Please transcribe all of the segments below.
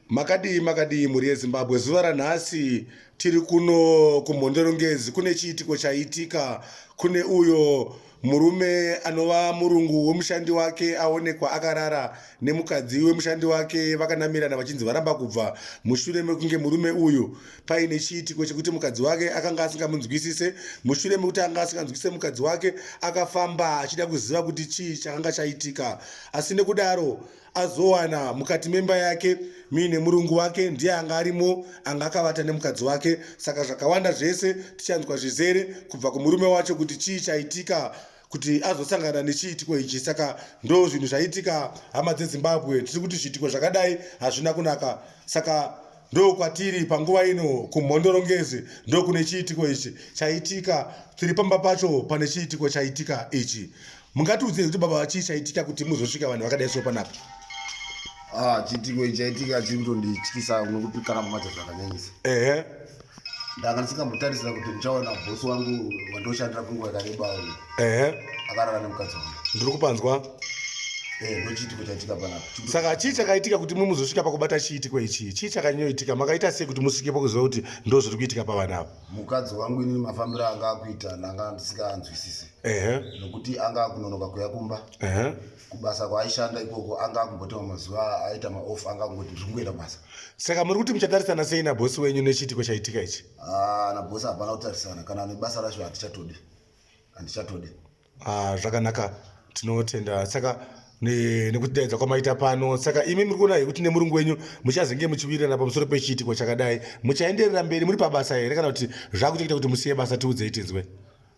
makadii makadii mhuri yezimbabwe zuva ranhasi tiri kuno kumhondorongezi kune chiitiko chaitika kune uyo murume anova murungu wemushandi wake aonekwa akarara nemukadzi wemushandi wake vakanamirana vachinzi varamba kubva mushure mekunge murume uyu paine chiitiko chekuti mukadzi wake akanga asingamunzwisise mushure mekuti anga asinganzwisise mukadzi wake akafamba achida kuziva kuti chii chakanga chaitika asi nekudaro azowana mukati memba yake muine murungu wake ndiye anga arimo anga akavata nemukadzi wake saka zvakawanda zvese tichanzwa zvizere kubva kumurume wacho kuti chii chaitika kuti azosangana nechiitiko ichi saka ndo zvinhu zvaitika hama dzezimbabwe tiri kuti zviitiko zvakadai hazvina kunaka saka ndo kwatiri panguva ino kumhondorongezi ndo kune chiitiko ichi chaitika tiri pamba pacho pane chiitiko chaitika ichi mungatiudze kuti baba vachii chaitika kuti muzosvika vanhu vakadai so panapa ah, chiitiko ichi chaitika chiri kutondityisa nokuti kana mumacho zvakanyanyisa ehe ndanga ndisingambotarisira kuti ndichaona bosi wangu wandoshandira kunguva yakareba uyu ehe akarara nemukadzi wangu ndiri kupanzwa Eh, ndochiitiko chaitika panapa saka chii chakaitika kuti mumuzosvika pakubata chiitiko ichii chii chakanyoitika makaita sei kuti musvikepo kuziva kuti ndozviri kuitika pavanhu ava mukadzi wangu inini mafambiro anga akuita ndanga ndisingaanzwisisi nokuti anga akunonoka kuya kumba kubasa kwaaishanda ikoko anga akumbotema mazuva aita maoff anga akungoti ndiri kungoenda basa saka muri kuti muchatarisana sei nabhosi wenyu nechiitiko chaitika ichi ah, nabhosi hapana kutarisana kana nebasa racho handichatodi handichatodi Ah, zvakanaka tinotenda saka nekutidaidza kwamaita pano saka imi muri kuona hekuti nemurungu wenyu muchazenge muchiwirirana pamusoro pechiitiko chakadai muchaenderera mberi muri pabasa here kana kuti zvakutoita kuti musiye basa tiudzei tinzwe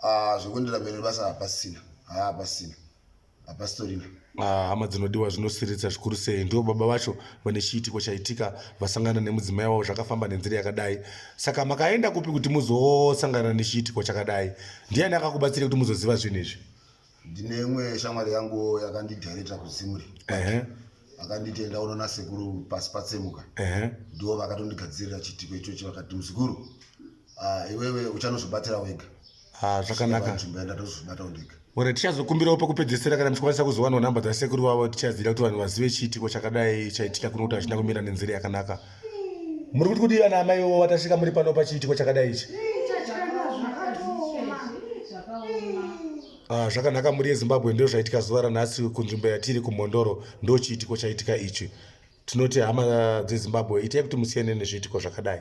ah, zvekuenderera mberi nebasa hapasina hapasina hapasitorina Ah, hama dzinodiwa zvinosiririsa zvikuru sei ndivo baba vacho vane chiitiko chaitika vasangana nemudzimai wavo zvakafamba nenzira yakadai saka makaenda kupi kuti muzosangana nechiitiko chakadai ndiani akakubatsira kuti muzoziva zvinhu izvi ndine imwe shamwari yangu yakandidirecta kuzimuri akanditi enda unoona sekuru pasi patsemuka ndivo vakatondigadzirira chiitiko ichochi vakati muzukuru ah, iwewe uchanozobatira wega Ah, zvakanaka nzvimbo yenda tozvibatawo ndega ore tichazokumbirawo pakupedzesera kana muchikwanisa kuzowanawo nhamba dzasekuru vavo tichaziva kuti vanhu vazive chiitiko chakadai chaitika kuno kuti hazvina kumira nenzira yakanaka muri kuti kudii vana amai wo vatasvika muri pano pachiitiko chakadai ichi Ah, zvakanaka muri yezimbabwe ndo zvaitika zuva ranhasi kunzvimbo yatiri kumhondoro ndo chiitiko chaitika ichi tinoti hama dzezimbabwe itai kuti musiyane nezviitiko zvakadai